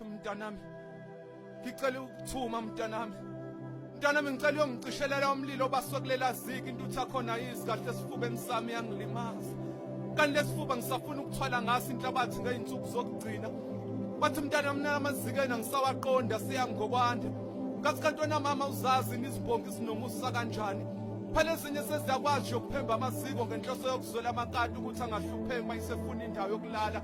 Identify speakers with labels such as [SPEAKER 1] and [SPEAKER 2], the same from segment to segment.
[SPEAKER 1] Mntanami, ngicela ukuthuma mntanami. Mntanami ngicela uyongicishelela umlilo obaswe kulela ziki intutha khona yizi kahle esifubeni sami yangilimaza. Kanti lesifuba ngisafuna ukuthwala ngaso inhlabathi ngeyinsuku zokugcina. Bathi mntanami nalamazikeni angisawaqondi asiyami ngokwanda. Kathi kanti wena mama uzazi nizibongi sinomusa kanjani? phela ezinye seziyakwazi yokuphemba amaziko ngenhloso yokuzwela amakati ukuthi angahlupheki uma isefuna indawo yokulala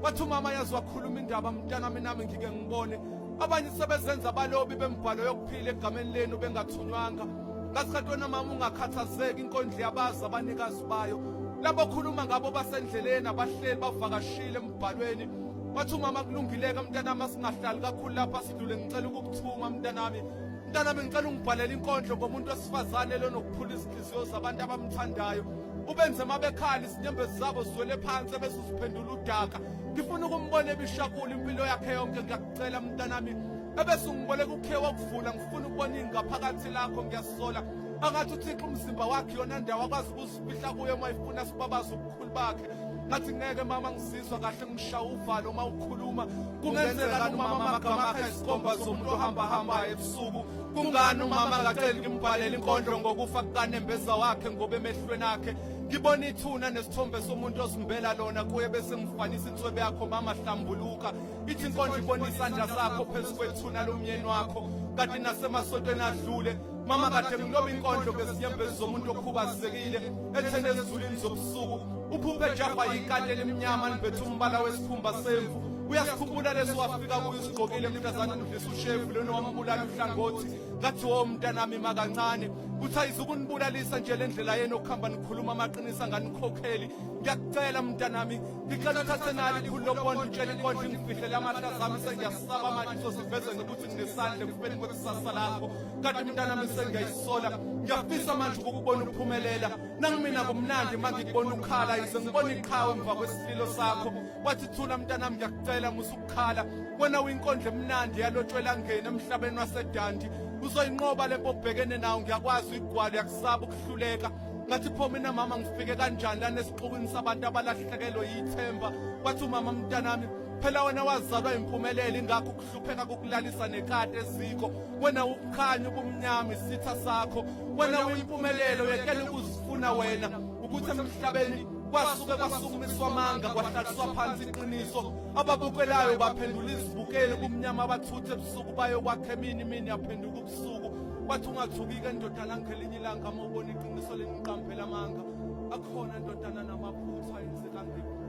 [SPEAKER 1] wathi umama yazi wakhuluma indaba mntanami nami ngike ngibone abanye sebezenza abalobi bembhalo yokuphila egameni lenu bengathunywanga ngasikhathi wena mama ungakhathazeki inkondlo yabazi abanikazi bayo labo khuluma ngabo basendleleni abahleli bavakashile embhalweni wathi umama kulungileke mntanami asingahlali kakhulu lapha sidlule ngicela ukukuthuma mntanami mntanami ngicela ungibhalele inkondlo ngomuntu wesifazane lonokuphula izinhliziyo zabantu abamthandayo ubenze mabekhala izinyembezi zabo zizwele phansi ebese uziphendula udaka ngifuna ukumbona ebishakula impilo yakhe yonke ngiyakucela mntanami ebese ungiboleka ukhe wakuvula ngifuna ukubona ingaphakathi lakho ngiyasola angathi uthixo umzimba wakhe yona ndawo akwazi ukuzifihla kuyo uma ifuna sibabaze ubukhulu bakhe ngathi ngeke mama ngizizwa kahle ngishawa uvalo uma ukhuluma kungenzeka umama amagama akhe isikomba zomuntu ohambahambayo ebusuku kungani umama akaceli ngimbhalele inkondlo ngokufa kukanembeza wakhe ngoba emehlweni akhe ngibona ithuna nesithombe somuntu ozimbela lona kuye bese ngifanisa inswebe yakho mama hlambuluka ithi inkondlo ibona isandla sakho phezu kwethuna lomyeni wakho kanti nasemasontweni adlule mama kade ngiloba inkondlo ngezinyembezi zomuntu okhubazekile ethene ezulwini zobusuku uphuphe jahwa yikati elimnyama libethe umbala wesikhumba semvu uyasikhumbula leso wafika kuyo usigqokile mntazana ushevu lona wambulala uhlangothi ngathi wo mntanami makancane kuthi ayizukunibulalisa nje le ndlela yenu okuhamba nikhuluma amaqiniso anganikhokheli ngiyakucela mntanami ngicela uthathe nali ikhulu lokubona utshela inkondla ingifihlele amahla zami sengiyasaba manje uzosiveze ngokuthi nginesandla ekufeni kwekusasa lakho kanti mntanami sengiyayisola ngiyafisa manje ukukubona uphumelela nangimina kumnandi uma ngikubona ukhala yize ngibona iqhawe emva kwesililo sakho wathi thula mntanami ngiyakucela musukukhala wena uyinkondla emnandi yalotshwela ngene emhlabeni wasedandi uzoyinqoba le bobhekene nawo ngiyakwazi uyigwalo yakusaba ukuhluleka ngathi pho mina mama ngifike kanjani lana esixukwini sabantu abalahlekelwe yithemba wathi umama mntanami phela wena wazalwa impumelelo ingakho hlupheka kukulalisa nekati eziko wena ukukhanya ubumnyama isitha sakho wena uyimpumelelo yekela ukuzifuna wena ukuthi emhlabeni kwasuke kwasukumiswa amanga kwahlaliswa phansi iqiniso ababukelayo baphendula izibukeli kumnyama abathuthe ebusuku bayokwakha emini imini yaphenduka ubusuku wathi ungathukike ndodana ngelinye ilanga uma ubona iqiniso leniqampela amanga akhona ndodana namaphutha enzeka ngephutha